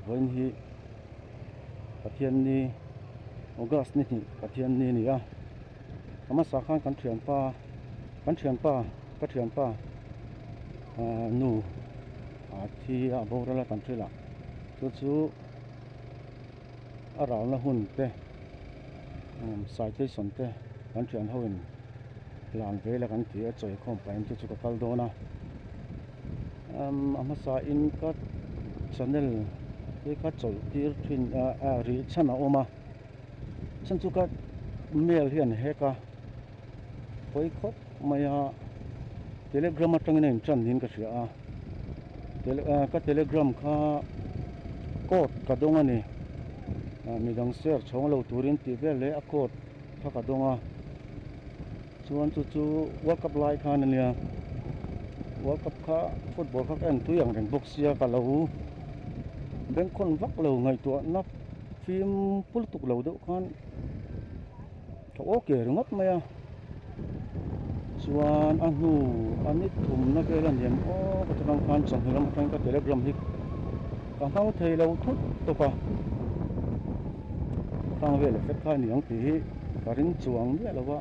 vawiin hi pathianni august ni hnih pathianni a ni a a hmasa khan kan thianpa kan thianpa ka thianpa ahh nu a thi a a borual a kan thil a chu chu-- a ralna hun te umm citation te kan thian ho in clan ve la kan ti a chawi khawm paih ang te chu ka kal dawn a umm a hmasa in ka channel hi ka chawlh tir thin a a rih chhan a awm a chhan chu ka mail hi an hack a pawi khawp mai a telegram atangin a in tan niin ka hria a. ka telegram kha code ka dawng a ni midang share chhawng lo turin tih vel leh a code kha ka dawng a chuan chu chu world cup lai khan a nia world cup kha football kha ka en tui ang reng bawk sia ka lo bank hawn vak lo ngaihtuahna fim pultuk lo deuh khan Tha aw ker ngawt mai a, chuan a hnu a ni thumna vel a niam aw ka ti bang khan chawhnu lam atangin ka telegram hi ka hmang thei lo thut tawp a, ka tang vel leh fek kha a ni ang tih hi ka ring chuang miah lo a,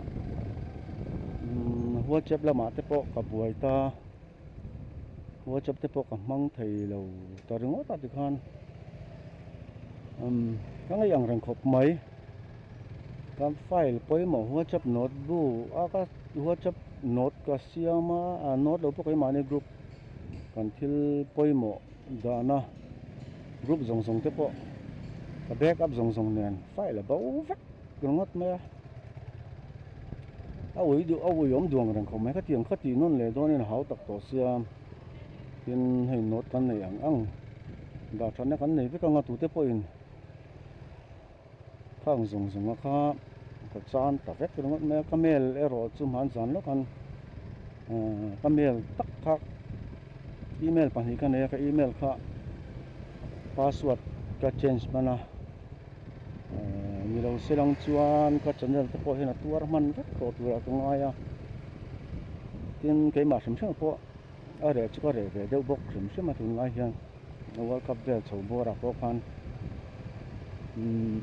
umm whatsapp lamah te pawh ka buai ta. whatsapp te pawh ka hmang thei lo ta ringawt a tikhan umm ka ngaih ang reng khawp mai ka file pawimawh whatsapp note bu a ka whatsapp note ka siam a a note lo pawh ka i mahni group kan thil pawimawh dahna group zawng zawng te pawh ka backup zawng zawng nen file a bo vek. tel ngawt mai a a ui duh a ui awm duang reng khawp mai kha tiang kha tih nawn leh dawn in a hau tak tawh sia tin hei nawt kan nei ang ang dah thatna kan nei vek ang a tute pawh in khang zawng zawng a kha ka chan ta vek ringawt mai a ka mel erawh chu hman zan lawk an aaa ka mel tak kha email pahnih ka nei a ka email kha password ka change hman a. Ahh ni lo se lang chuan ka channel te pawh hian a tuar hman vek tawh tur a ka ngai a tin keimah hrim hrema pawh a reh chu ka reh ve deuh bawk hrim hrema tun lai hian world cup vel chho buarah pawh khan umm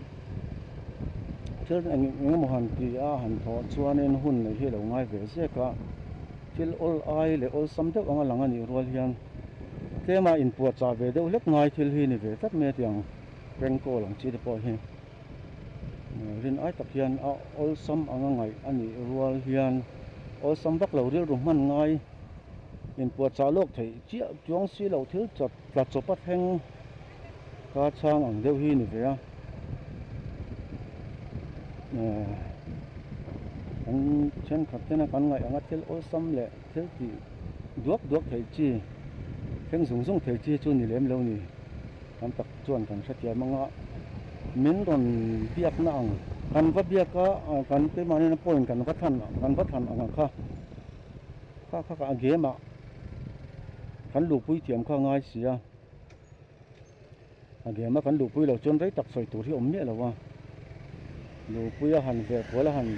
thil eng eng emaw han ti a han thawh chuanin hun neih hi a lo ngai ve zek a thil awl ai leh awlsam deuh anga lang a nih rual hian tlema inpuahchah ve deuh hlek ngai thil hi a ni ve tlat mai a tiang. prank call ang chi te pawh hi rin ai tak hian a awlsam anga ngaih a nih rual hian awlsam vak lo rilru hman ngai in puahchah lawk theih chiah chuang si lo thil chawp tla chawpa thleng ka chhang ang deuh hi ni ve a kan thenkhat hian kan ngaih anga thil awlsam leh-- Fel tih duak duak theih chi, thleng zung zung theih chi chu ni lem lo ni. Tam tak chuan kan hretia mang a, min rawn biakna ang. Kan va biak a, kan keimahnena point kan va than, kan va than ang ang kha. Kha kha kha game-ah kan luh pui thiam kha a ngai si a. a game a kan luhpui lo chuan rei tak sawi tur hi awm miah lo a luhpui a han veh kual a han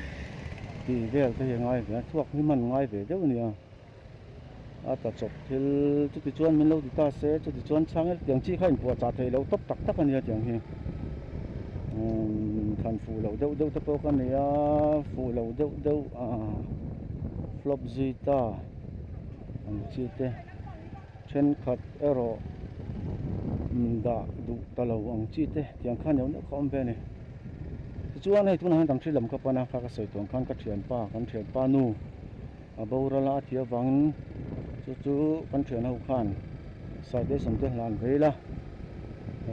ti vel te hi a ngai ve a chhuak hi man ngai ve deuh a ni a a ta chawp thil chuti chuan min lo ti ta se chuti chuan chhangel tiang chi kha in puahchah theih loh tawp tak tak a nia tiang hi umm than fuh loh deuh deuh te pawh ka ni a fuh loh deuh deuh a flop zui ta ang chi te. Thenkhat erawh dah duh ta lo ang chi te tiang kha neuh neuh kha awm ve a ni. Tichuan hei tunah hian kan thil lam ka pan a, kha ka sawi tawn khan ka thianpa, kan thianpa nu a boral a, a ti avangin chu chu kan thian ho khan Saite Sawmte hlan vei la,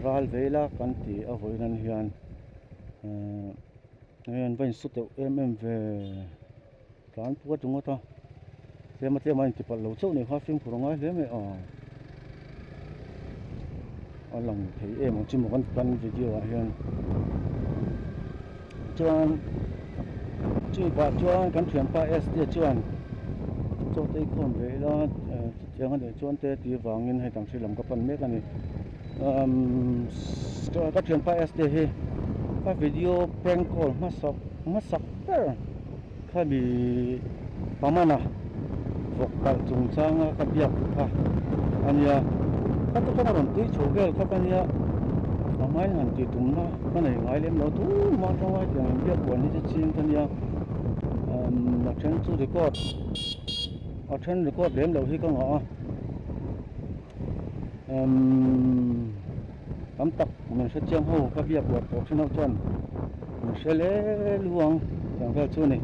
ral vei la kan ti a vawi nan hian, ehh, hei an va insaw teuh em em ve. Tlan pua chu ngawt a, tlema tlema inti palh lo chauh nei kha film khuh rawn ngai hle mai a. A lang thei em ang chu mo kan ti tan video ah hian. Chuan chumi pah chuan kan thianpa ST chuan chawtei khawm ve ila chutianga leh chuan te tir vangin hei dang thil lam ka pan mek a ni. um ka thian pa ST hi ka video prank call hmasak hmasak ber kha ni Paman a vawk kalh chung chang a ka biak duh kha a nia ka tu chuan a rawn tui chho vel khawp a nia a hmai han tih tum na ka nei ngai lem lo thu mah tangai tiang in biak huan hi chu ching ka nia um a then chu record a then record lem loh hi ka ngah a. Umm tam tak min hre chiang ho ka bia buat tawh thin ho chuan min hre lel hu ang tiang vel chu ani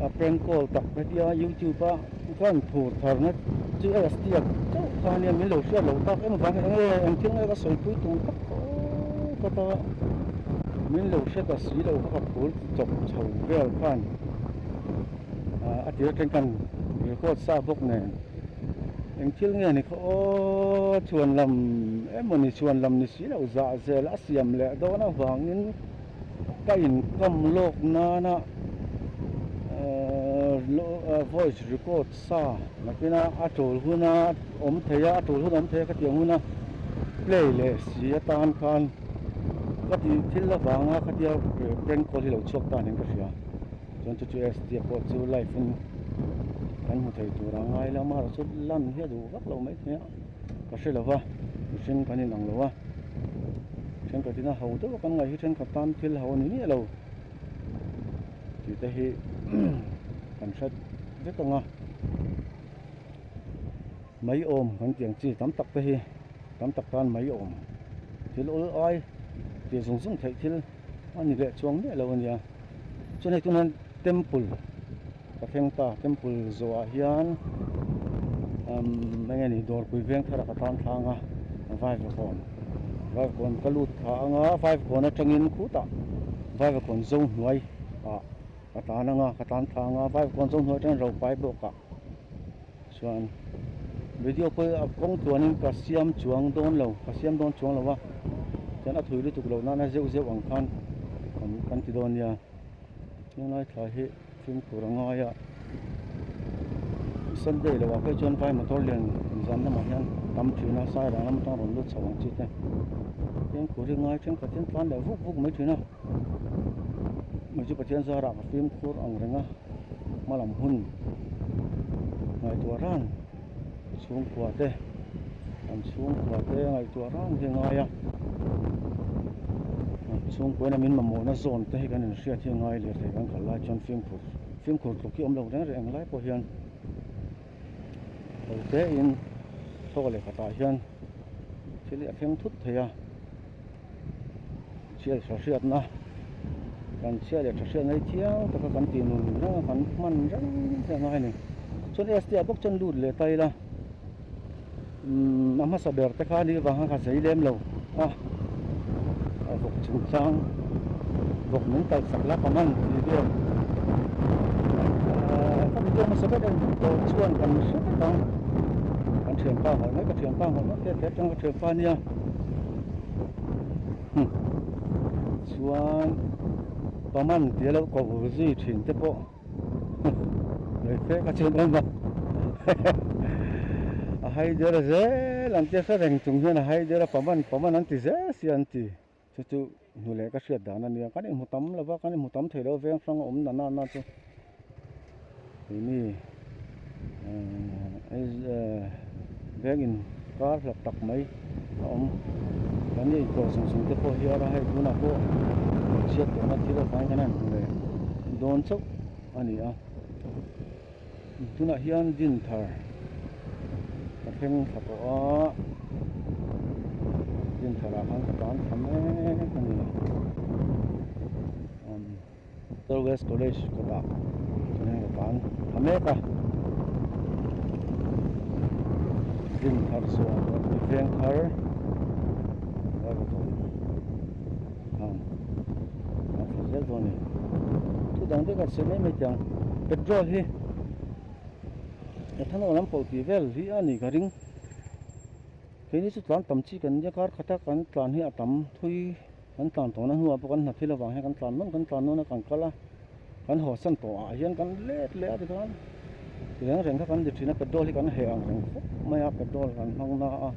a prank call tak ka tia youtube a khan thur thar na chu a astiak chauh kha ania min lo hriat lo tak em avang eng nge eng thil nge ka sawi pui tum tak tawh ka ta min lo hre ta si lo ka phur chawp chho vel khan a ti aṭang kan record sa bawk nen. eng thil nge ni kha aw chuan lam emawni chuan lam ni si lo zahzel a siam leh dawn avangin ka inkam lawk nana ahh voice record sa nakina a tul huna awm theia a tul hun awm theia ka tiang huna play leh si atan khan ka tih thil avanga khatia prank call hi lo chhuak tan hian ka hria. chuan chu chu SDF pawh chu live in kan hmu thei tur ang ai lam erawh chu lan hi a duh vak lo mai thei a ka hre lo va mihring kan inang lo a thenkhat ina ho deuh a kan ngaih hi thenkhat tan thil ho a ni miah lo tih te hi kan hre vek ang a mai awm kan tih ang chi tam tak te hi tam tak tan mai awm thil awl ai tih zung zung theih thil a ni leh chuang miah lo a nia chuan hei tunah hian temple ka thleng ta temple zawhah hian umm eng nge ni dawrpui veng thar a ka tan thlang a vaivakawn vaivakawn ka lut thla ang a vaivakawn atangin khutah vaivakawn zo hnuai ah ka tan ang a ka tan thlang a vaivakawn zo hnuai atangin ropui bawkah-- Chuan video pawh a kawng tluanin ka siam chuang dawn lo, ka siam dawn chuang lo a, chuan a thui lutuk loh nana zeuh zeuh ang khan kan ti dawn nia. Tunlai thlai hi film tur a ngai a, Sunday lo ah phei chuan vai motor lian zam lamah hian tam thin a, Sai Rang lam atang rawn lut chho ang chi te, Thiam khur hi ngai thenkhatin tlan leh vuk vuk mai thin a. Mahse Pathian zara ka fim khur ang reng a, hmalam hun ngaihtuah ran chhungkua te an chhungkua te ngaihtuah ran hi a ngai a, an chhungkua in an min mamawhna zawn te hi kan inhriat hi a ngai leh thei kan kal lai chuan fimkhur fimkhur tluk hi a awm lo reng reng ang lai pawh hian ho tein thawk a leh khatah hian thil hi a thleng thut thei a. chhiat tha hriatna kan chhiat leh tha hriat mai chiang taka kan tih nun ni zanga kan hman reng reng ang a hei ni chuan ST ah bawk chuan lut leh ta ila umm a hmasa ber te khan hi vang a ka zei lem lo a a vawk chhim chang vawk min kal sak la ka man ti vel aaa ka video hmasa ber em tawh chuan kan hre vek ang kan thianpa hawi mai ka thianpa hawi mai pek pek chuan ka thianpa nia chuan paman tih a lo ko vur zui thin te pawh ngaih fek a chhun awm a a haider zel ang tia saw reng chung hian a haider a paman paman an ti zel si an ti chu chu hnuleh ka hriat dan ania kan inhmu tam lova kan inhmu tam thei lo veng hrang a awm nana na chu. keini eee biakin kar hlawk tak mai a awm kan ni eitur chung chung te pawh hian hei tunah pawh hmeichhia tawna thil a fai ngan a nuh leh dawn chauh a ni a tunah hian din thar ka thleng thla tawh a din tharah khan ka tan tham emmm a ni. Hotel West College kawtah kan heng tan tha mek a, Muslim thar chuan Rabbi Vengkhar Raltawng ang a tha zel dawn a ni, thu dang dek a chheh mai mai tiang petrol hi ethanol an pawh tih vel hi a nih ka ring, keini chu tlan tam chi kan nia kar khata kan tlan hi a tam thui. Kan tlan tawhna hnuah pawh kan hna phil avang hian kan tlan nawn kan tlan nawn a kan kal a, kan haw san tawh ah hian kan let leh a tikhan reng reng kha kan di thin a, petrol hi kan heh ang reng fawp mai a, petrol han hmang na a,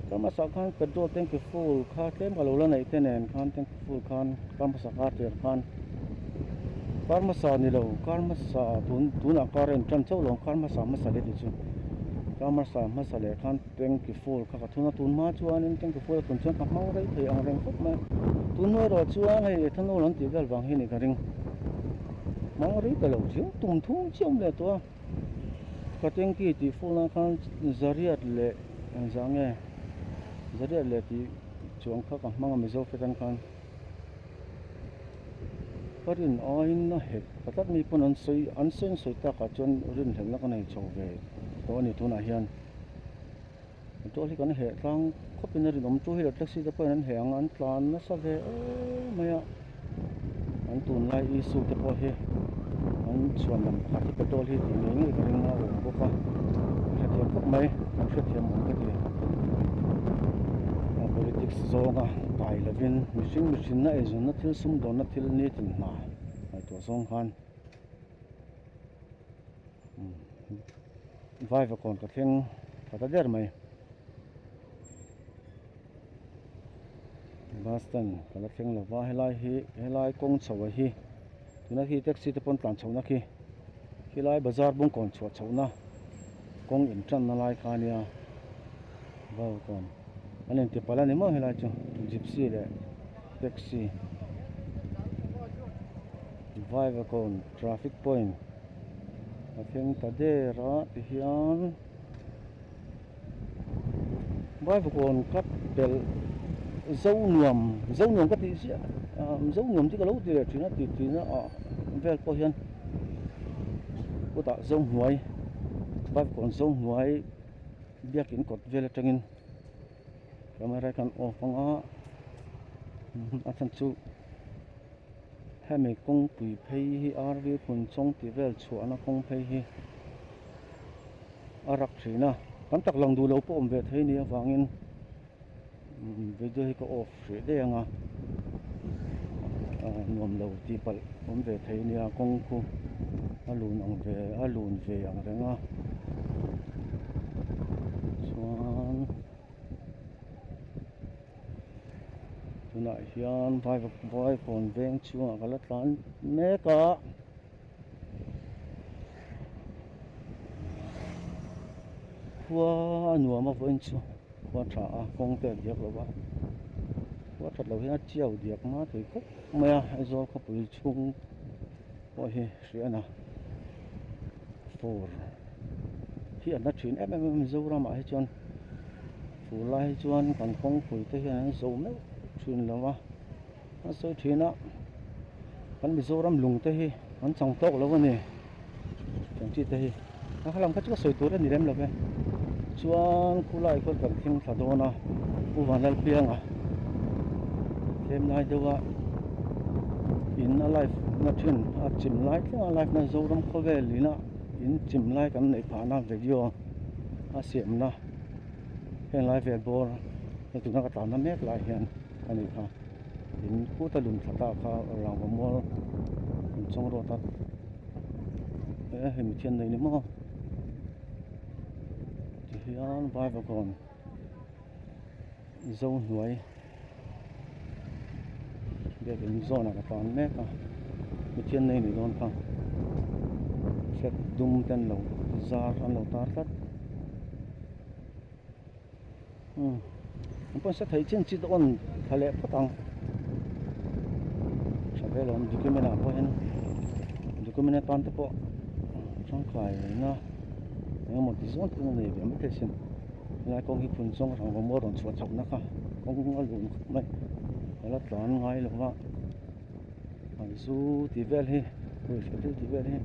kan hmasa khan petrol tank i full kha tlem ka lo la neih te nen khan tank i full khan kar hmasa kar tir khan kar hmasa ni lo kar hmasa tun tunah kar a in tan chauh lo ang kar hmasa hmasa leh tih chu kar hmasa hmasa leh khan Tengki Fall kha ka thun a, tun hma chuanin Tengki Fall a thun chuan ka hmang rei thei ang reng khawp mai. Tun hma erawh chuan hei ethanol an tih vel vang hi a ni ka ring. Hmang rei ta lo chiang, tum thum chiam leh tawh a. Ka Tengki tih Fall a khan Zariat leh zah nge Zariat leh tih chuang kha ka hmang a, Mizo Flat an khan ka rin aiin a hek ta tak mi pawn an sawi an sawi an sawi takah chuan rinhlelhna ka nei chho ve tawh a ni tunah hian. Motor hi kan heh tlang khawpin a rinawm two wheeler taxi te pawhin an heh ang a an tlan nasa ve êêê mai a an tun lai issue te pawh hi an chhuan lam pakhat hi petrol hi tih ngei ngei ka ring a a awm bawk a ka hrethiam khawp mai kan hrethiam awm ka ti a politics zawnga kai lovin mihring mihrinna eizawnna thil sum dawnna thil nitin hna ngaihtuah zawng khan umm. Vaiva kawn ka thleng tha ta der mai. Bus stand ka la thleng lo va helai hi helai kawng chho a hi tuna khi taxi te pawn tlan chhohna khi khilai bazar bung kawn chhuah chhoh na kawng in tan na lai kha a nia vaiva kawn an in ti pal a ni maw helai chu gypsy leh taxi vaiva kawn Traffic point a thleng ta der a ti hian baivakawn ka pel zo nuam zo nuam ka tih chiah a zo nuam chu ka lo ti leh thin a ti thin a ah vel pawh hian kawtah zo hnuai baivakawn zo hnuai biakin kawt vel atangin camera hi ka han off anga a chhan chu Hemi kawngpui phei hi RV hmun chawng tih vel chhuahna kawng phei hi a rak thin a, tam tak lang duh lo pawh awm ve thei ni avangin video hi ka off hrih daih anga nuam lo tih palh awm ve thei nia kawngku a lun ang ve a lun ve ang reng a chuan. tunah hian vai vai kawn veng chhungah ka la tlan mek a. Khua a nuam a vawiin chu khua tha a kawng te a biak lo va, khua that loh hian a tiau diak hma thei khawp mai a, Aizawl khawpui chhung pawh hi hriana fur hi a hla thin em em a, Mizoramah hi chuan Chu lai hi chuan kan kawngpui te hian an zo meuh thin lo a, an sawi thin a kan Mizoram lung te hi an chang tawk lo a ni, kan chi te hi a khalang kha chu a sawi tur a ni lem lo e, chuan khu lai khawl kan thleng thla dawn a, Pu Van Lalpiang a tlem lai deuh a in a life na thin a chim lai thleng a, life na Zoram khawvel ina in chim lai kan neih phah na video a siam na. Helai vel bawr he tuna ka tlanna mek lai hian a ni kha, in khuta lum thla ta kha rangva mual in chawng rawt a, eh hemi thian nei ni maw tihian vaiva kawn zo hnuai. bag in zawhna ka tan mek a mithian na inneih dawn kha flag dum te an lo zar an lo tar tlat umm an pawh an sa thei chin chit a awn thla leh phawt ang tha vel a awm document ah pawh hian document atan te pawh tangkai neihna eng emaw ti zawng te pawh a nei ve ang maithei a sin. helai kawng hi phun chuang rangva a rawn chhuah chauh na kha kawng a lun khawp mai a la tlan ngai lo va an zu tih vel hi ruih hrilh hrilh tih vel hi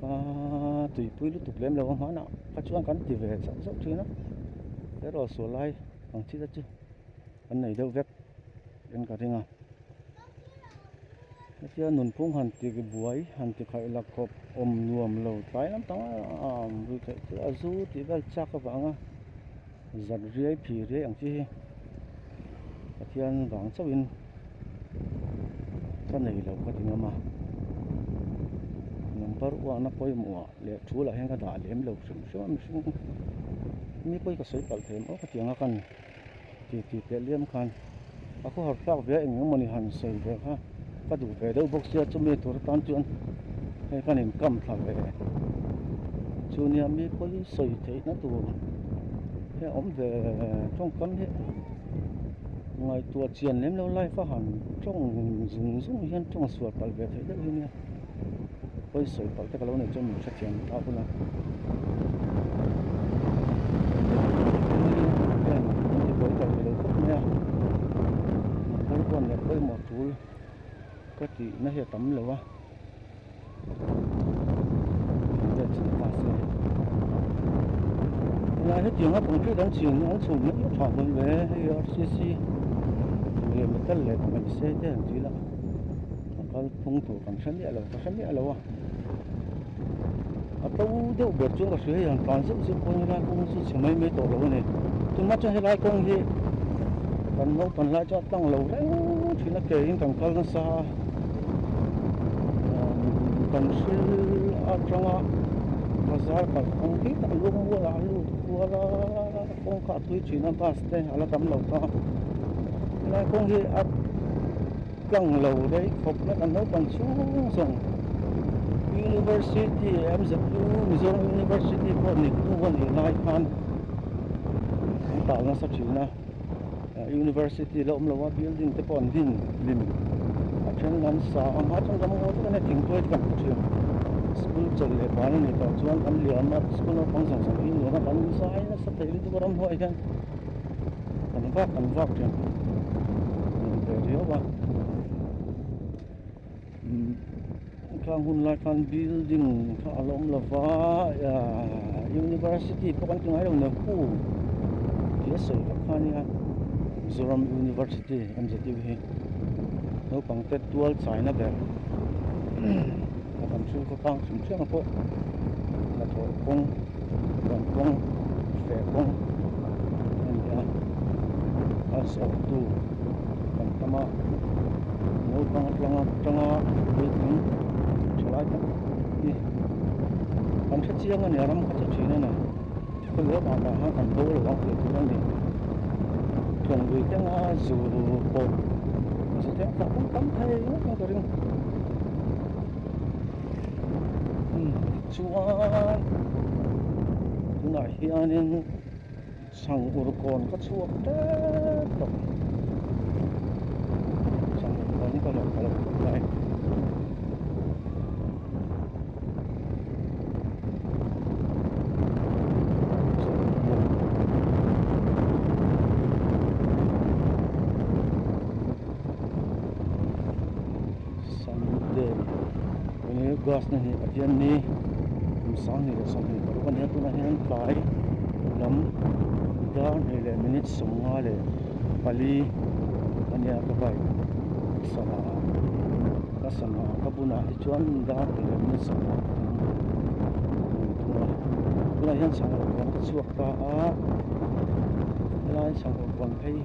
aaa tuipui lutuk lem lo ahmana kha chuan kan ti ve zauh zauh thin a erawh sualai ang thil a chu-- kan nei deuh vek in ka ring a, hetia nunphung han ti buai han ti khaih la khawp awm nuam lo tlai lam panga an vui theih chu a zu tih vel chak avanga zat riai phi riai ang chi hi Pathian vang chauhin ka nei lo ka ti ngam a, number uahna pawimawh leh thu lah hian ka dah lem lo hrim hrim a mihring mi pawh hi ka sawi palh thei maw ka ti ang a ka ni. Tih ti teh liam khan a khaw har tlak ve a eng eng mawni han sawi ve kha ka duh ve deuh bawk sia chumi tur atan chuan hei khan in kam thla ve chu nia mi pawi sawi theih na tur hi a awm ve tawngkam hi ngaihtuah chian lem lo life a han tawng zung zung hian tawng sual palh ve theih deuh hi nia. pawisawi palh tak a lo nei chuan min hrethiam a hun a ka tihna hi a tam lo a helai hetiang a concrete an chhin an chhun mai tha mai hle a hei rcc leh metal leh mahse te an chih ila. a kal phung tur kan hre miah lo ka hre miah lo a a to deuh ber chuan ka hria hei an tlan zeuh zeuh pawhin helai kawng hi chu chhe mai mai tawh lo a ni tunah chuan helai kawng hi kan naupang hlai chu a tlang lo reng thin a keiin kan kal nasa a kan hre atanga bazar kalh kawng hi a lung mualah a lut kual a kawngka a tui thin a bus te a la tam lo ta helai kawng hi a Tlang lo daih khawp na kan naupang chhung zawng University MZU Mizoram University pawh nih tu a nih lai khan an tah nasa thin a University la awm lo a building te pawh an din hlim a then lam sa ang ha chuan ram ngaw tak ania thingpuai te kan hmu thin school chawl leh van anih tawh chuan an liam a school naupang zawng zawng hi nuna kan zai nasa theih lutuk a ramhnuaih hian tam vak tam vak hian a lang ve riau va umm khang hun lai khan building kha a lo awm lo va ya university pawh kan ti ngai lo nia khu tih a sawi vak khan nia mizoram university awmze deuh hi naupang te tual chai na ber umm a kan thil kawtang hrim hrim a pawh hnathawh kawng-- kan kawng fe kawng a ni a a zawhtu kan tam a naupang tlanga tanga puitling tha lai tak hi kan hre chiang a ni a ram kha chu thin a nei khawlua tah tah khan kan do lo ang tih tur a ni thawngdui kenga zu pawh ka hre thei a tlak tam tham thei ka ring. chuan tunah hianin chhang ur kawn ka chhuak tep tawp chhang ur kawn hi ka lawm ta lo khawp mai Santel enge gas na hnih ahian ni kum sang hnih leh sawmhnih tawh bawk a nia tunah hian tlai lam dar hnih leh minute sawmnga leh pali a nia ka bike ka sana a ka sana ka bunah hi chuan dar hnih leh minute sawmnga ka awm ni thung a tunah hian chhang lo puan ka chhuak ta a helai chhang lo puan phei hi--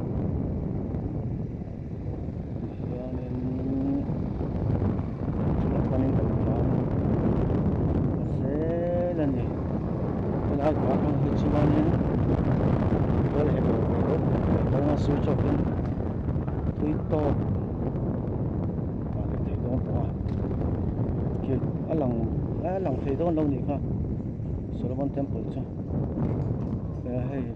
tihianin tuna chuanin kan hmuh ang hrisel a ni helai tuna hmang hi chuanin khual he dawr ve deuh tak leh kal na sir chaukin tui tawk a ni thei dawn tawh a khi a lang a lang thei dawn lo ni kha solomon temple chu hei a hei--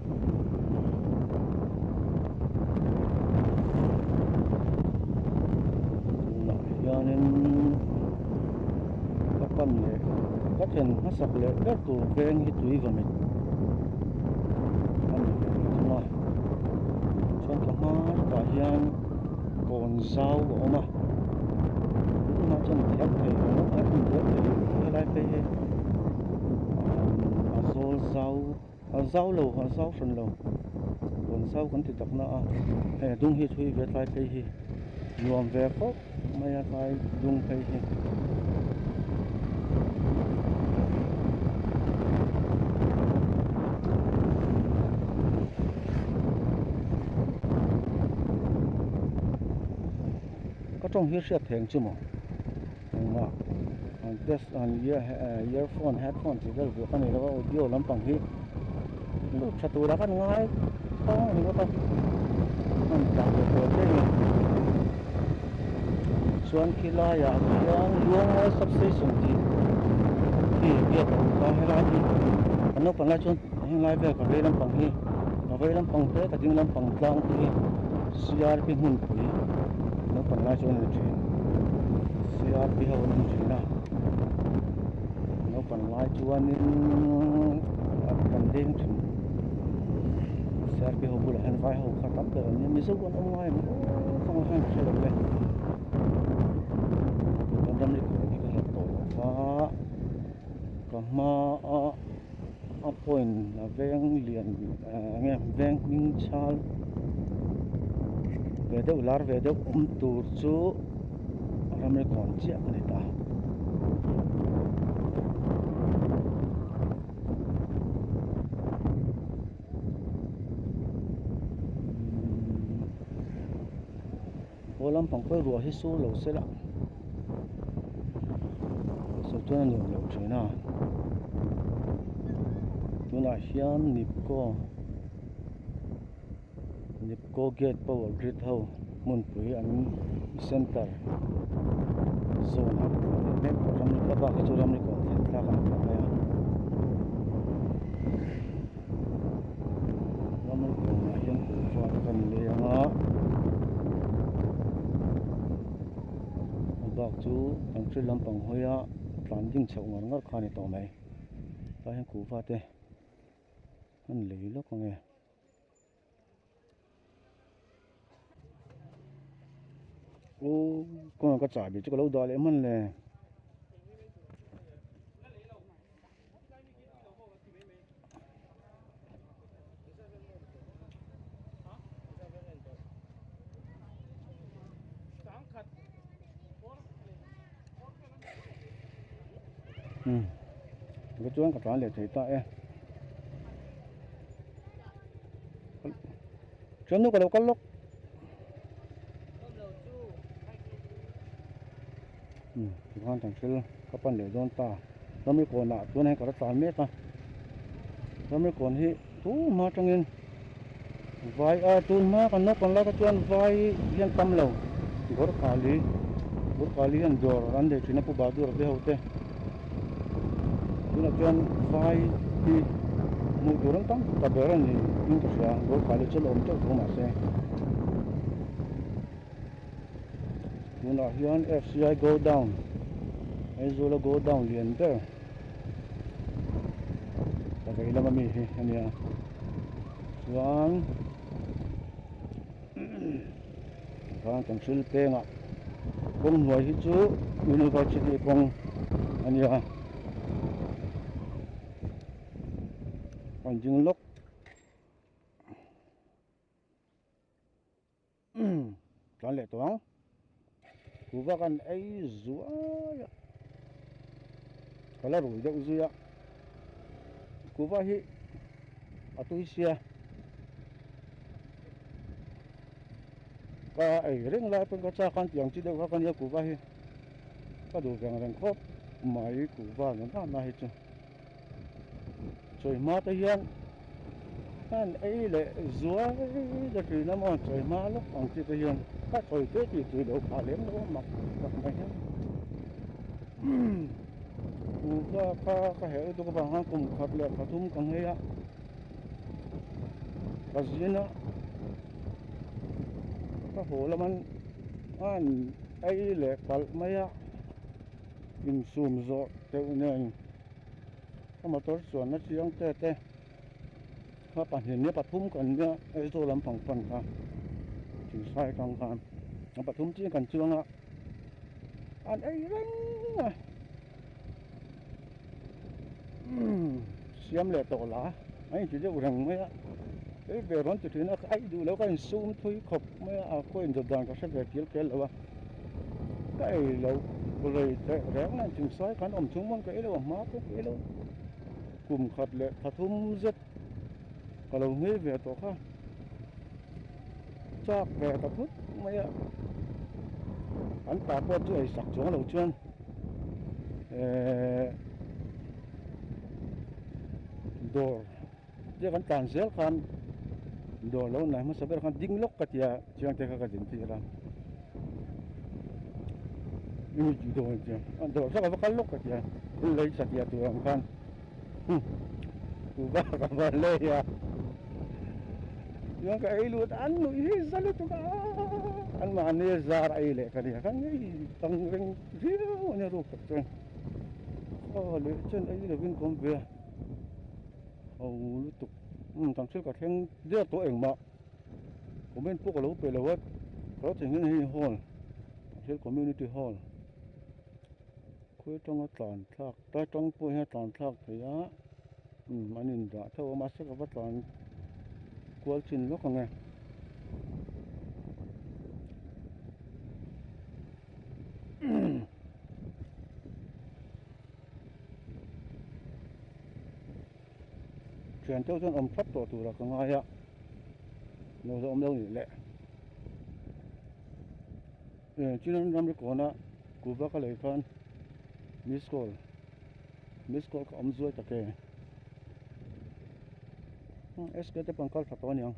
tunah hianin ka pan leh ka thlen hmasak leh ber tur veng hi tui vawmit a ni ve thung a chuan ka hmai takah hian kawn zau a awm a tunah chuan a thiam theih lo a a thin diau theih lo a helai phei hi umm a zawl zau. Haw zau lo haw zau hran lo rawn zau kan ti takna a hei a dung hi thui ve tlai phei hi nuam ve fauh mai a tlai dung phei hi ka tawng hi a hriat theng che maw. Engmah an test an earphone headphone tih vel buak a ni lo a audio lampang hi lut tha tura kan ngai tawng a ni bawk a kan tlan ve tawh daih a chuan khilaiah hian luangmawlh substation tih khi a biak a awm kha helai hi a naupang lai chuan a hnunlai vel ka vei lampang hi ka vei lampang te ka ding lampang tlang te hi CRP hmunpui naupang lai chu an en thin CRP ho an en thin a naupang lai chuanin a kan ding thin CRP ho bulah hian vai ho kha tam ber an ni mizo an awm ngai ang u kawng hian ka hre lo le kan ram ri khawh hi ka hlat tawh lo va ka hma a a point a veng lian ah nge veng hming chhal ve deuh lar ve deuh awm tur chu a ram ri kawm chiah a ni ta. Aw lampang khawi ruah hi sur lo sela sawi chuan a niawm loh thin a tunah hian nipco nipco gate power grid ho hmunpui an center zâwn a mek tawh ramri kawpa kha chu ramri kawng thlen thlak an phah mai a. ramawng thawmna hian kut chuan a rawn lei ang a a bak chu kan hre lampang hawi a tlan ding chho ngar ngar kha a ni tawh mai tlai ah hian kuhva te a ni lei lawk ang e. Kawngah ka chah ve chu ka lo dah leh hman le. Ka chuan ka tlan leh thei ta e. Thiannu ka lo kal lawk. Tikhan kan thil ka pan leh dawn ta. Ramri kawnah chuan hei ka la tlan mek a. Ramri kawn hi. Tun hma tangin vai a tun hma kan naupang laka chuan vai hian tam lo Gorkhali Gorkhali hian dawr an leh thin a Pu Bahadur te ho te tunah chuan vai hi hmuh tur an tam ta ber a ni in ka hria Gorkhali chu la awm teuh tho mah se tunah hian FCI go down Aizula go down lian ber. a vei lama mi hi a nia chuan vang chaw thil pengah kawng hnuai hi chu university kawng a nia a rawn zing lawk. Tlan leh tawh ang. Kuva kan ei zuai a. Ka la rui deuh zui a. Kuva hi a tui sia. Ka ei reng lai pawh ka chak a tiang chi deuh kha ka nia kuva hi ka duh veng reng khawp mai kuva nunana hi chu. Chawihma te hian khan ei leh zual ka tih lam awn chawihma lawk ang chi te hian ka chawi teh tih tui lo phah lem lo a mak tak mai hian upa kha ka herh lutuk avang khan kum khat leh pathum ka ngei a ka zian a ka haw lam an an ei leh palh mai a Insum zawh deuh nen ka motor chuanna chiang te te kha pahnih leh pathum kan nia Aizawl lam pang pan kha tih hriat ang khan a pathum chiang kan chuang a an ei reng a. siam leh tawh la a inti deuh reng mai a kei ve rawn ti thin a ai duh loh ka insum thui khawp mai a a khawiin dawt dan ka hre ve kil kel lo a ka ei lo rei theih reng mai a inchung sawi kha an awm chhung mawn ka ei lo a hma pawh ka ei lo kum khat leh pathum zet-- ka lo ngei ve tawh kha chak ve ta phut mai a an pa pawh chu eisak chuang lo chuan eh dawr chiah kan tlan zel khan dawr lo nai hmasa ber khan ding lawk ka tia chiang te kha ka din tir a eng tih dawn tia dawr zawk ava kal lawk ka tia thil lei chhatiah tur ang khan Hu ba ka hman leh hi a. Chuan ka ei lut a an nuih hi za lutuk a an mahni a zar a ei leh ka nia ka ngei tang reng viau a nia ruk tak chuan aw leh chuan ei lovin ka awm ve a ho lutuk umm kan thil ka thleng viau tawh engmah comment pawh ka lo pe lo a ka lo cheng hian hei hall thil community hall khawi tanga tlan thlak Ka tang pawh hian a tlan thlak thei a, umm an indah theuh a, mahse ka va tlan kual chin lawk ang e. Thian teuh chuan awm thlap tawh tura ka ngai a, no zawh awm lo nih leh. Eh Chin an ram rekawn a kuba ka lei khan miss call miss call ka awm zuai tak e hmm SK te pawh an kal tha tawh a niang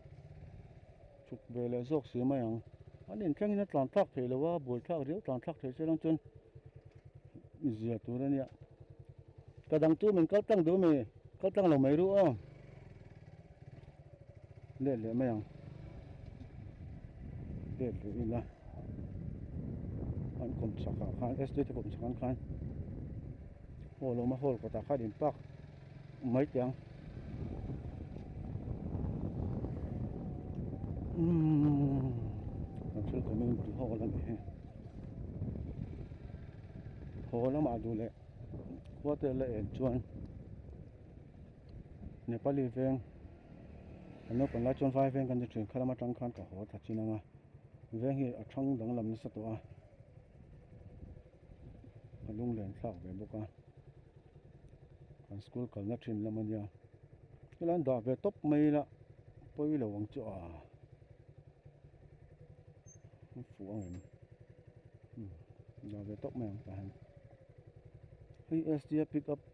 chhuk ve leh zawk si mai ang an inthlengin a tlan thlak theih lo a buai thlak riau tlan thlak theih chiang chuan zia tur a nia ka dang chu min kal tlang duh a mi kal tlang lo mai ru aw. let leh mai ang let leh ila an kum chhakah khan estate a kum chhak ang khan hall awm a hall kawtah khan in park maithei ang umm kan thil kawm in bul ho a la ni hi haw lamah duh leh khuate la en chuan nepali veng an naupang lai chuan vai veng kan ti thin kha lam atang khan ka haw thla chin ang a veng hi a thang dang lam nasa tawh a a lung len thlak ve bawk a an school kalna thin lam ania helai an dah ve tawp mai ila pawi lo ang chu a an fuh ang em dah ve tawp mai ang tah hian hei sda pick up --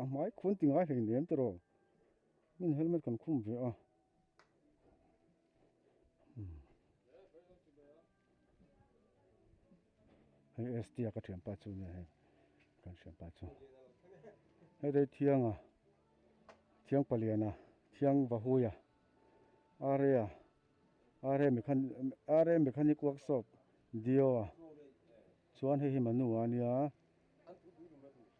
A hmai khuan ti ngai hlei nem tawrh aw min helmet kan khum ve a hei ST a ka thiam pa chu nia hei kan hriam pa chu heta hi thianga thiang paliana thiang vahuia aria aria mekhan aria mechanic workshop dio a chuan hei hi manua nia.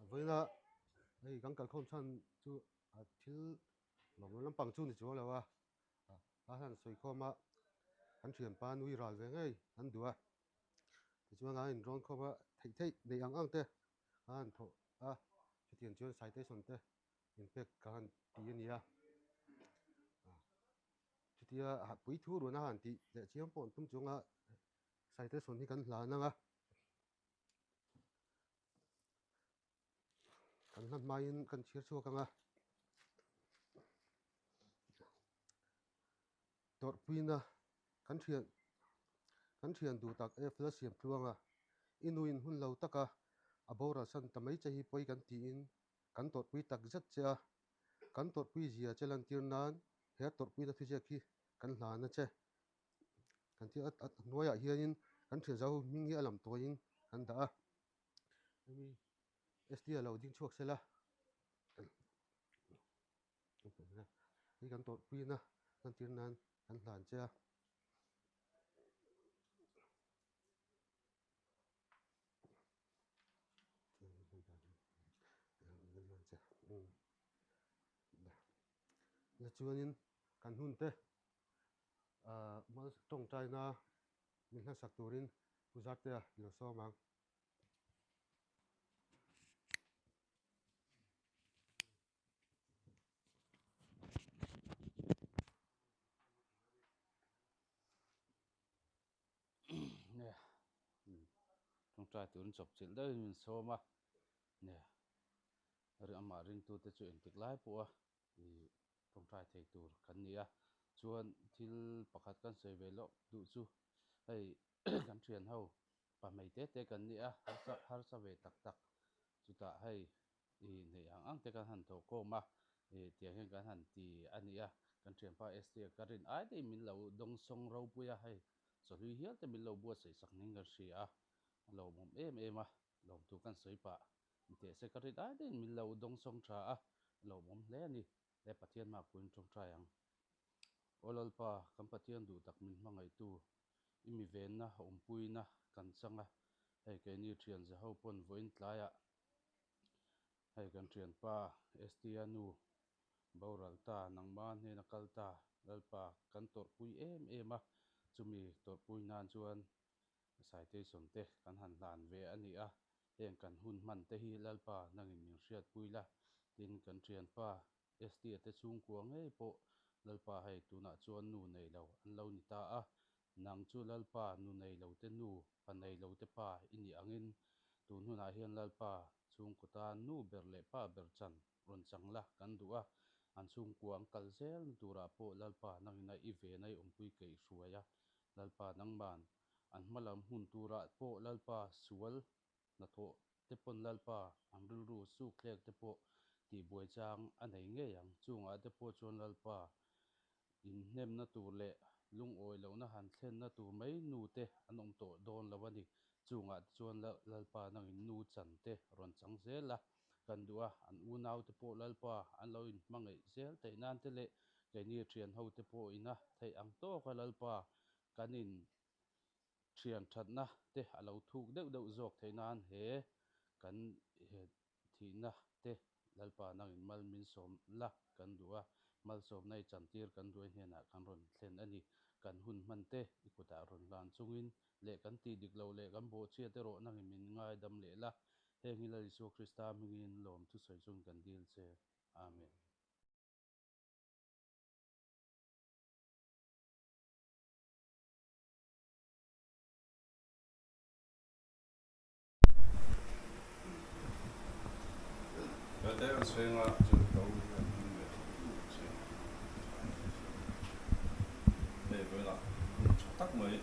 a vawi la hei kan kalkhawm chhan chu a thil lo lo lampang chu ni chu a lo a a hian a sawi khawm a kan thian pan nui ral ve ngei an duh a tichuan an inrawn khawm a theih theih neih ang ang te a han thawh a hetian chuan citation te inpek ka han ti a ni a chutia puithu run a han tih leh chiang pawh an tum chunga. Citation hi kan hlan ang a, kan hlan hmaiin kan chhir chhuak ang a, Tawrhpuina kan thian kan thian duh tak F la siam thlu ang a, i nu in hun lo taka a boral san ta mai che hi pawi kan tiin kan tawrhpui tak zet che a, kan tawrhpui zia che lantir nan he tawrhpuina thuziak hi kan hlan a che. kan thil a hnuaiah hianin kan thianzo ho hming hi a lam tawhin kan dah a hemi ST a lo ding chhuak sela hei kan tawrhpuiin a kan tir nan kan hlan che a. Ahh tawngtaina min hlasak turin Pu Zartea i lo sawm ang. Tawngtai turin chawpchilh deuhin min sawm a. Amah ringtute chu entik lai pawha ni ṭawngṭai thei tur kan ni a, chuan thil pakhat kan sawi ve loh duh chu hei kan ṭhian ho pa hmei te te kan ni a, harsa harsa ve tak tak chutah hei i hneih ang ang te kan han thawh kawm a tiang hian kan han ti a ni a, kan ṭhianpa Esther ka rin ai daih min lo dawng sawng ropui a, hei chawhlui hial te min lo buatsaih sak niin kan hria a, a lawmawm em em a. Lawmtu kan sawi pah ni teh se ka ri dai daiin min lo dawng sawng tha a, lohmawm hle a ni e Pathian mah pui in tawng tai ang. Aw Lalpa, kan Pathian duh tak min hmangaihtu, i mivenna awmpuina kan changa hei keini thianze ho pawn vawiin tlaiah hei kan thianpa ST a nu Boral ta nangma hnena kal ta Lalpa kan tawrhpui em em a, chumi tawrhpui nan chuan Saitei sawmte kan han hlan ve a ni a, heng kan hun hman te hi Lalpa nangin min hriat pui la, tin kan thianpa Estia te chhungkua ngei pawh Lalpa hei tunah chuan nu nei lo an lo ni ta a, nang chu Lalpa nu nei lo te nu, pa nei lo te pa i nih angin, tun hunah hian Lalpa chhungkaw tan nu ber leh pa ber chan rawn chang la, kan duh a, an chhungkua an kal zel na turah pawh Lalpa nangina i ve nai awmpui keih hruai a, Lalpa nangman an hma lam hun turah pawh Lalpa sual hnathawh te pawn Lalpa an rilru sukthlek te pawh tihbuai chang a nei ngei ang, chungah te pawh chuan Lalpa inhnemna tur leh lungawi lohna han thlenna tur mai nu te an awm tawh dawn lo a ni, chungah te chuan Lalpa nangin nu chan te rawn chang zel a. kan duh a, an unaute pawh Lalpa an lo in hmangaih zel theih nan te leh keini thian ho te pawh in a theih ang tawk a, Lalpa kan in thian thatna te a lo thuk deuh deuh zawk theih nan he kan thihna te Lalpa nang in mal min sawm la kan duh a, malsawmna i chantir kan duai hnen ah kan rawn thlen a ni, kan hun hman te i kut ah rawn hlan chung in leh kan tih dik lo leh kan bawhchhiat erawh nang in min ngaidam leh la, Heng ila Isua Krista hmingin lawm thusawi chuan kan dil che. Amen.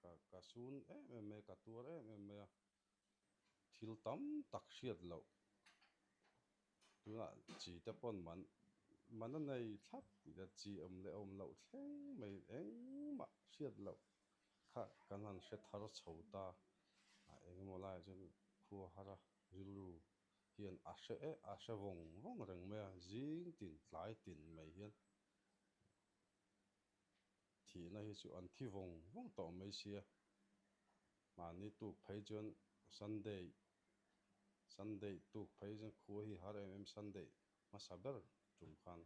ka ka sun em em mai a ka tuar em em mai a thil tam tak hriat loh tunah chi te pawn man man a nei thlap tih ka chi awm leh awm loh thleng mai engmah hriat loh kha kan han hre thar chho ta a eng emaw lai ah chuan khuahara rilru hian a hre eh a hre vawng vawng reng mai a zing tin tlai tin mai hian. Thihna hi chu an thi vawng vawng tawh mai sia. Mahni tuk phei chuan Sunday, Sunday tuk phei chuan khua hi har em em Sunday hmasa ber tum khan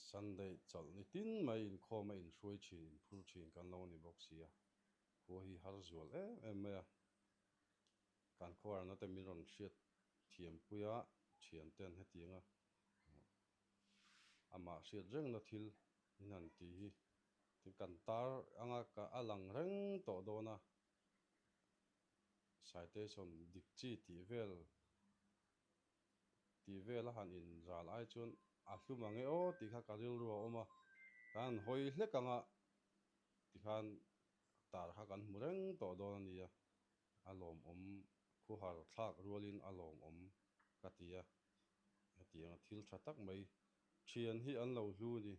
Sunday chawlh ni tin mai inkhawm a inhruai thin, inphur thin kan lo ni bawk sia. Khua hi har zual em em mai a. Kan khuarna te min rawn hriat thiam pui a, thiante an hetiang a. amah hriat rengna thil in han ti hi tin kan tar anga ka a lang reng tawh dawn a, citation dik chi tih vel tih vela han in zal ai chuan a hlum ang e aw tih kha ka rilru a awm a, kan han hawi hlek anga tikhan tar kha kan hmu reng tawh dawn a nia. a lawmawm khaw har thlak rualin a lawmawm ka ti a, ka ti ang a thil tha tak mai, thian hi an lo hlu ni,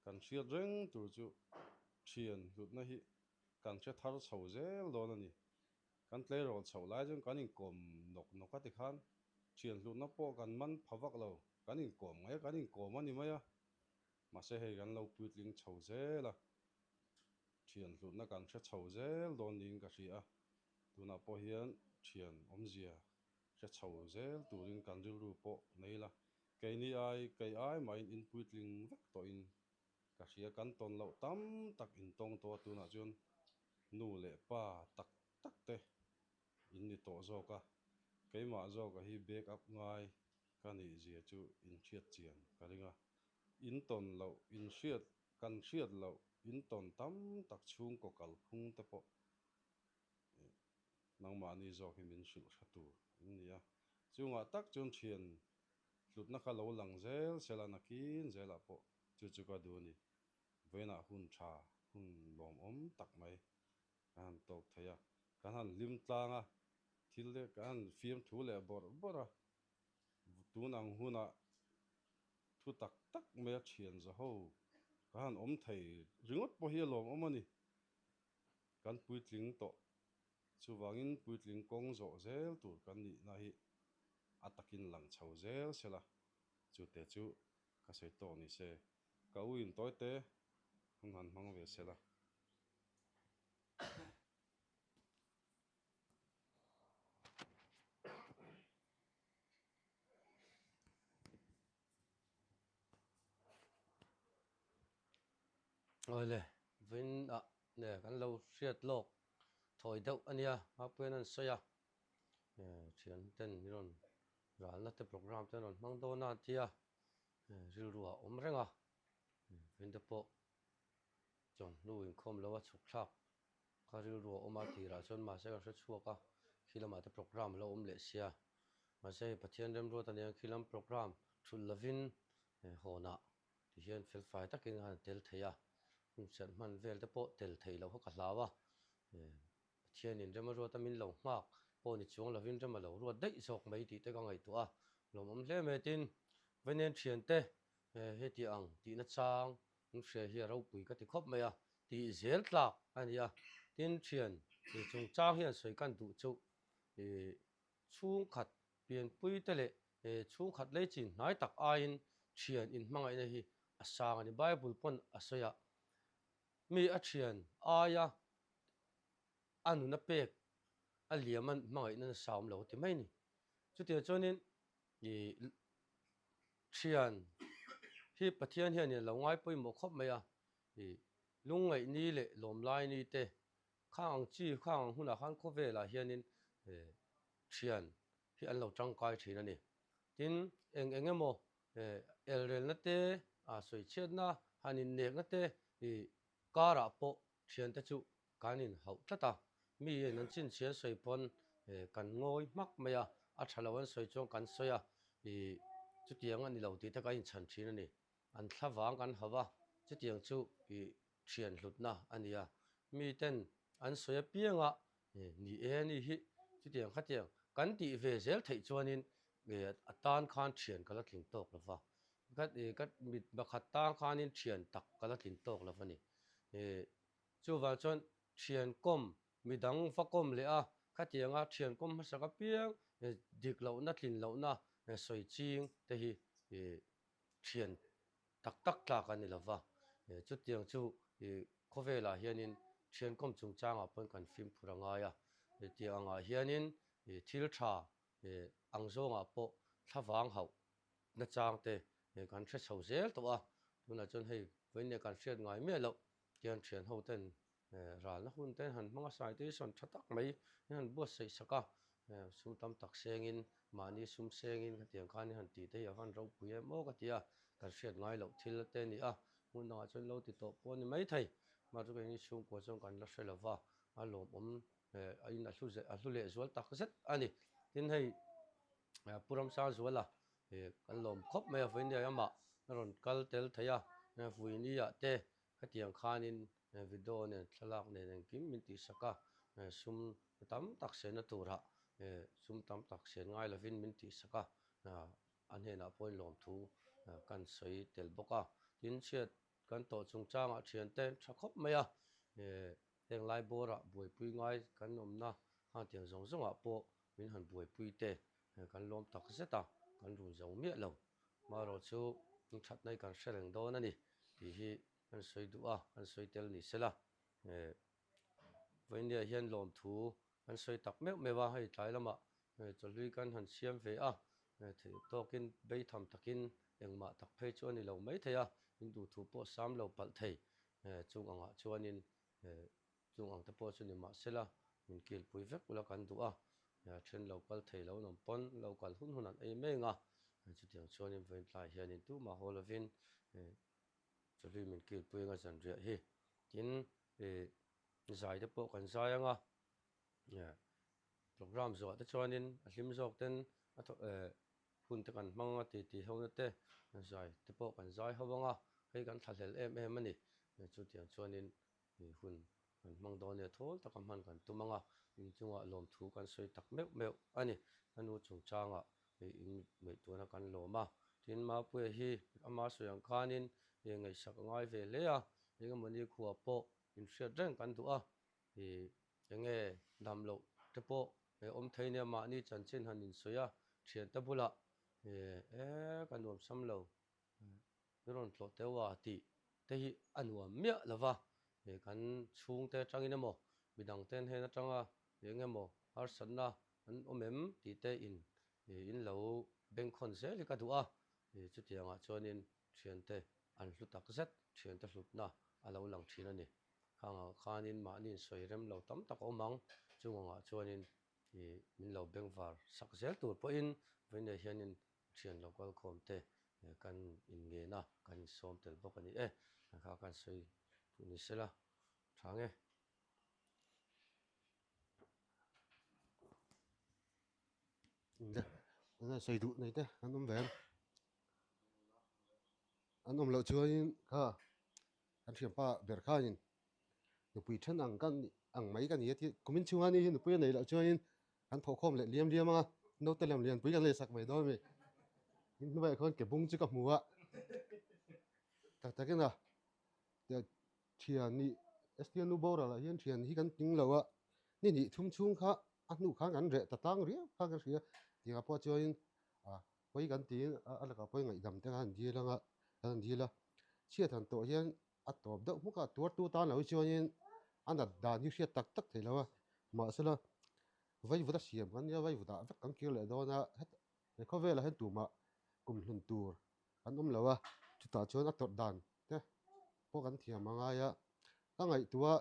kan hriat reng tur chu thian hlutna hi kan hre thar chho zel dawn a ni, kan tleirawl chhoh lai chuan kan inkawm nawk nawk a tikhan thian hlutna pawh kan man pha vak lo, kan inkawm nge kan inkawm a ni mai a. Mahse hei kan lo puitling chho zel a, thian hlutna kan hre chho zel dawn niin ka hria a, tunah pawh hian thian awmzia hre chho zel turin kan rilru pawh nei la, keini ai kei ai mahin in puitling vek tawhin ka hria, kan tawn loh tam tak in tawng tawh a, tunah chuan nu leh pa tak tak te in ni tawh zawk a, keimah zawk a hi backup ngai ka nih zia chu in hriat chian ka ring a, in tawn loh in hriat kan hriat loh in tawn tam tak chhungkaw kal phung te pawh ih nangmahni zawk hi min hrilh hre tur in ni a, chungah tak chuan thian hlutna ka lo lang zel sel a nakin zelah pawh chu chu ka duh a ni, vawiinah hun tha hun lawmawm tak mai Ka han tawk thei a, ka han hlim tlang a, thil te ka han fiam thu leh bawrh bawrh a, tun ang hunah thu tak tak mai a thian za ho, ka han awm thei ringawt pawh hi a lawm awm a ni. Kan puitling tawh, chuvangin puitling kawng zawh zel tur kan nihna hi a takin lang chho zel se la, chute chu ka sawi tawk ni se, ka uintawi te hun han hmang ve se la. Awle vin ah nge kan lo hriat lawk thawi deuh a nia a puiin a ni sawi a nge thian ten hi rawn ralna te programme te an rawn hmang dawn a an tia rilru ah awm reng a vin te pawh-- Chuan hnu inkhawm lo a chhuk thlak kha rilru a awm a tirah chuan mahse ka hre chhuak a, khi lamah te programme a lo awm leh sia. Mahse hei Pathian remruat a nia khi lam programme thut lovin he hawnah ti hian felfai takin a han tel thei a, hmun serh hman vel te pawh tel thei loh kha ka hlau a, Pathianin rem a ruat a min lo nghak pawh ni chuang lovin rem a lo ruat daih zawk mai tih te ka ngaihtuah a lawmawm hle mai tin vainen thiante He heti ang tih na chang in hria hi a ropui ka ti khawp mai a, tih zel tlak a ni a, tin thian ih chung chang hian sawi kan duh chu ih chhungkhat pianpui te leh ih chhungkhat lei chin hnai tak aiin thian in hmangaih na hi a sang a ni, Bible pawn a sawi a, mi a thian aia a nuna pek a liam a hmangaih na nasawm lo ti mai ni, chutia chuan in ih Ṭhian, hi Pathian hian ilo ngai pawimawh khawp mai a, i lungngaihni leh lawmlaini te khang ang chi khang ang hunah khan khawvelah hianin ṭhian hi an lo ṭangkai ṭhin a ni. Tin, eng eng emaw elrelna te, sawichhiatna han innekna te karah pawh ṭhiante chu Kan in hauh tlat a, mi in an chin chhiar sawi pawn eh kan ngawi hmak mai a, a tha lo an sawi chuan kan sawi a, ih chutiang a ni lo tih te kan in chhan thin a ni. An thla vang kan hauh a, chutiang chu ih thian hlutna a ni a, mi ten an sawi apiang a, eh ni e ni hi chutiang khatiang kan tih ve zel theih chuan in eh a tan khan thian ka la tling tawk lo va, ka eh ka mit bakhat tan khan in thian tak ka la tling tawk lo a ni. Eh. Chuvang chuan thian kawm midang va kawm leh a, khatianga thian kawm hmasak apiang dik lohna tlin lohna sawi ching te hi thian tak tak tlak a ni lo va, chutiang chu khawvelah hianin thian kawm chungchangah pawn kan fimphur a ngai a, tiang angah hianin thil tha ang zawngah pawh thlavang hauh nachang te kan hre chho zel tawh a, tunah chuan hei vawiin kan hriat ngai miah loh Khian thian ho ten ral na hun ten han hmang a sai te hi sawn tha tak mai hi han buat saih sak a sum tam tak seng in mahni sum seng in heti ang khan han ti te hi a van ro pui em aw ka ti a kan hriat ngai loh thil te a ni a hmun dang ah chuan lo ti tawh pawh a ni mai thei mahse keng in chhungkua chuan kan la hre lo va a lawmawm a in a hlu leh zual tak zet a ni tin hei pu ramsar zual a he kan lawm khawp mai a vawin riai awmah ka rawn kal tel thei a, Vuini ah te hetiang khanin video nen thlalak nen engkim min tih sak a, sum tam tak siamna turah sum tam tak siam ngai lovin min tih sak a, a hnenah pawhin lawmthu kan sawi tel bawk a, tin chhiat kan tawh chungchangah thiante an tha khawp mai a. Heng lai bawra buaipui ngai kan awmna hang tiang zawng zawngah pawh min han buaipui te kan lawm tak zet a, kan run zo miah lo. Marawh chu in thatna hi kan hre reng dawn a ni tih hi kan sawi duh a, kan sawi tel ni sela. Vawinia hian lawmthu kan sawi tak meuh meuh a, hei tlai lamah chawhlui kan han siam ve a, theih tawkin bei tham takin engmah tak phei chu a ni lo maithei a, in duhthu pawh sam lo palh thei. He chung angah chuanin he chung ang te pawh chu ni mah sela min kilpui vek ula kan duh a, he a then lo kal thei lo nawm pawn lo kal hun hun an ei meng a, he chutiang chuanin Vawiintlai hianin tumah haw lovin he Chawhlui min kilpui anga zan riah hi. Tin he zai te pawh kan zai anga. Programme zuahte chuanin a hlim zawkten a thaw eh hunte kan hmang a titi ho nate zai te pawh kan zai ho vang a, hei kan thlahlel em em a ni. Chutiang chuanin hun kan hmang dawn nge thawl taka hman kan tum ang a, inchungah lawmthu kan sawi tak meuh meuh a ni. A nu chungchangah in ngaih tuna kan lawm a, tin Mapuia hi ama sawi ang khanin ngaihsak a ngai ve hle a, engemawni khua pawh inhriat reng kan duh a, Hi enge damloh te pawh he awm thei nia mahni chanchin han insawi a, thian te bulah hi e ka nuamsam lo i rawn tlawh teu a tih te hi a nuam miah lo va, he kan chhungte atangin emaw midang ten hen atanga hi enge maw harsatna an awm em tih te in hi in lo bengkhawn zel hi ka duh a, hi chutiangah chuanin Thiante an hlu tak zet thiante hlutna a lo lang thin a ni. Khang ah khanin mahniin sawi rem lo tam tak a awm ang, chungangah chuanin i min lo bengvar sak zel tur pawhin vawi nei hianin thian lo kualkhawm te kan inngen a, kan insawm tel bawk a ni e. Kan kha kan sawi duh ni se la, tha nge. Tunah sawi duh nei te an awm ve an an awm loh chuaiin kha an thianpa ber khain nupui then ang ka nih ang mai ka ni a tih kumin chhunga ni hi nupui a nei loh chuaiin an thawhkhawm leh liam liam a naute lam lianpui kan leh sak ve dawn a ni tin hnuaiah khawn ke bung chu ka hmu a tak takin a. Thian ni, Sd nu boral ah hian thian hi kan tling lo a, ni hnih thum chhung kha a hnu khan kan reh ta tlang riau kha ka hria, tianga pawh chuanin ah pawi kan tiin a lakah pawi ngaihdam te khan dil anga kan han dil a, chhiat han tawh hian a tawp deuh hmuk a, tuartu tan lohi chuanin a nat dan hi hriat tak tak theih lo a, mahsela vaivuta siam kan nia, vaivuta vek kan kir leh dawn a, He khawvelah hian tumah kum hlun tur an awm lo a, chutah chuan a tawrh dan te pawh kan thiam a ngai a. Ka ngaihtuah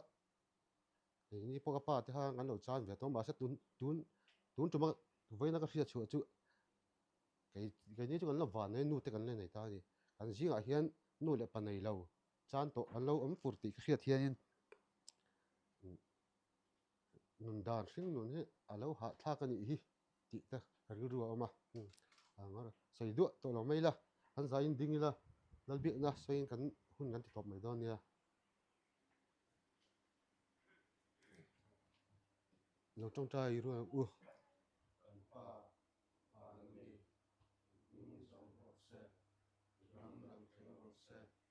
kei ni pawh ka pa te hang an lo chan ve tawh mahse tun tun tun tuma vawiina ka hria chhuah chu kei kei ni chu kan lo van mai a nu te kan la nei ta a ni. Kan zingah hian nu leh pa nei lo chan tawh an lo awm fur tih ka hriat hianin umm. nun dan hring nun hi a lo hahthlak a nih hi tih te ka rilru a awm a eng sawi duah tawh lo mai ila an zaiin ding ila lal biakna sawiin kan hun kan ti tawp mai dawn nia lo tawngtai a rilru ang u papa pali min zawng rawh se ram lang thei rawh se.